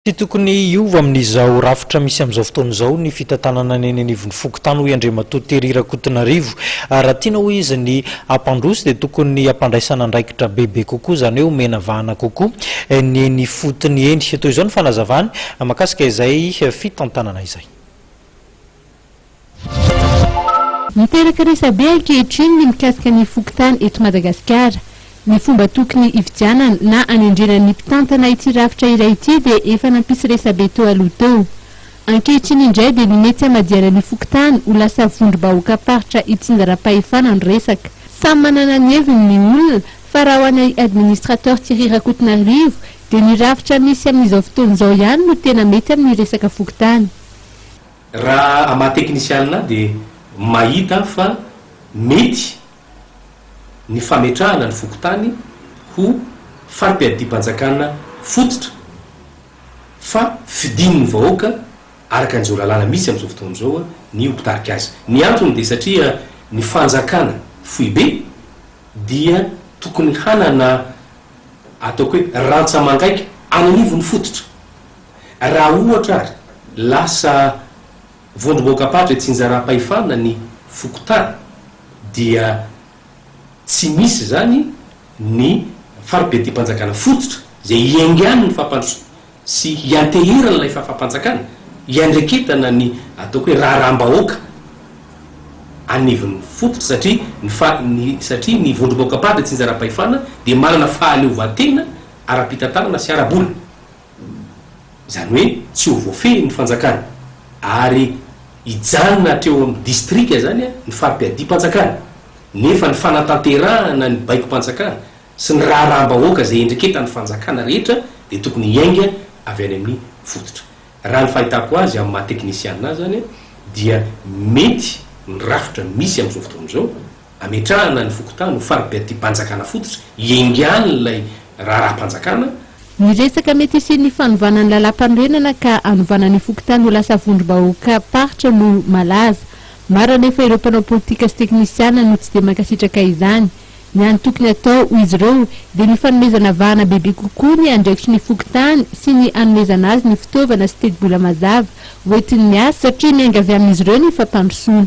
Tsy tokony hiova amin'izao rafitra misy amin'izao fotoana izao ny fitantanana ny eny anivon'ny fokontany hoy Andriamatoa Terry Rakotonarivo. Raha tiana hoy izy ny hampandroso dia tokony hampandraisana andraikitra bebe kokoa izany hoe omena vahana kokoa ny eny ifotony eny. Toy izao ny fanazavany mahakasika izay fitantanana izay. Miteraka resabe ankehitriny ny mikasika ny fokontany eto Madagasikara. Ny fomba tokony hividianana na hanendrena ny mpitantana ity rafitra iray ity dia efa nampisy resabe teo aloha teo. Ankehitriny indray dia ny mety hamadihana ny fokontany ho lasa vondrom-bahoakam-paritra itsinjaram-pahefana no resaka. Samy manana ny heviny ny olona fa raha ho anay Administrateur Thierry Rakotonarivo dia ny rafitra misy amin'izao fotoana izao ihany no tena mety amin'ny resaka fokontany. Raha a maha teknisianina ahy dia mahita aho fa mety ny fametrahana ny fokontany ho fari-piadidiam-panjakana fototra fa fidin'ny vahoaka araka an'izao lalàna misy amin'izao fotoana izao ny ho mpitarika azy. Ny antony dia satria ny fanjakana foibe dia tokony hanana ataoko hoe rantsa-mangaika any anivon'ny fototra Raha ohatra ary lasa vondrom-boakam-padra itsinjaram-pahefana ny fokontany dia tsy misy izany ny fari-bediam-panjakana fototra izay hiaingan'ny fampandrosoana sy hianteheran'ilay fahafam-panjakana hiandraiketana ny ataoko hoe raharaham-bahoaka anivon'ny fototra satria ny fa ny satria ny vondrom-boakam-padra itsinjaram-pahefana dia manana fahaleovantena ara-pitantanana sy ara-bola. izany hoe tsy ho voafehy ny fanjakana ary hijanona hatreo amin'ny distrika izany ny fari-piadim-panjakana, nefa ny fanatanterahana ny baikom-panjakana sy ny raharaham-bahoaka izay endreketan'ny fanjakana rehetra dia tokony hiainga avy any amin'ny fototra. Raha ny fahitako azy amin'ny maha teknisiana azy izany dia mety ny rafitra misy amin'izao fotoana izao, Ametrahana ny fokontany ho faribeatibanjakana fototra iengan'ilay raharaham-panjakana. Ny resaka mety hisian'ny fanovana ny lalàmpanorenana ka hanovana ny fokontany ho lasa vondrom-bahoakam-paritra no malaza. Maro anefa ireo mpanao politika sy teknisiana no tsy dia mankasitraka izany. Ny hany tokony hatao, hoy izy ireo, dia ny fanomezana vahana bebe kokoa ny andraikitry ny fokontany sy ny hanomezana azy ny fitaovana sy tetibola mazava hoentiny miasa satria miainga avy amin'izy ireo ny fampandrosoana.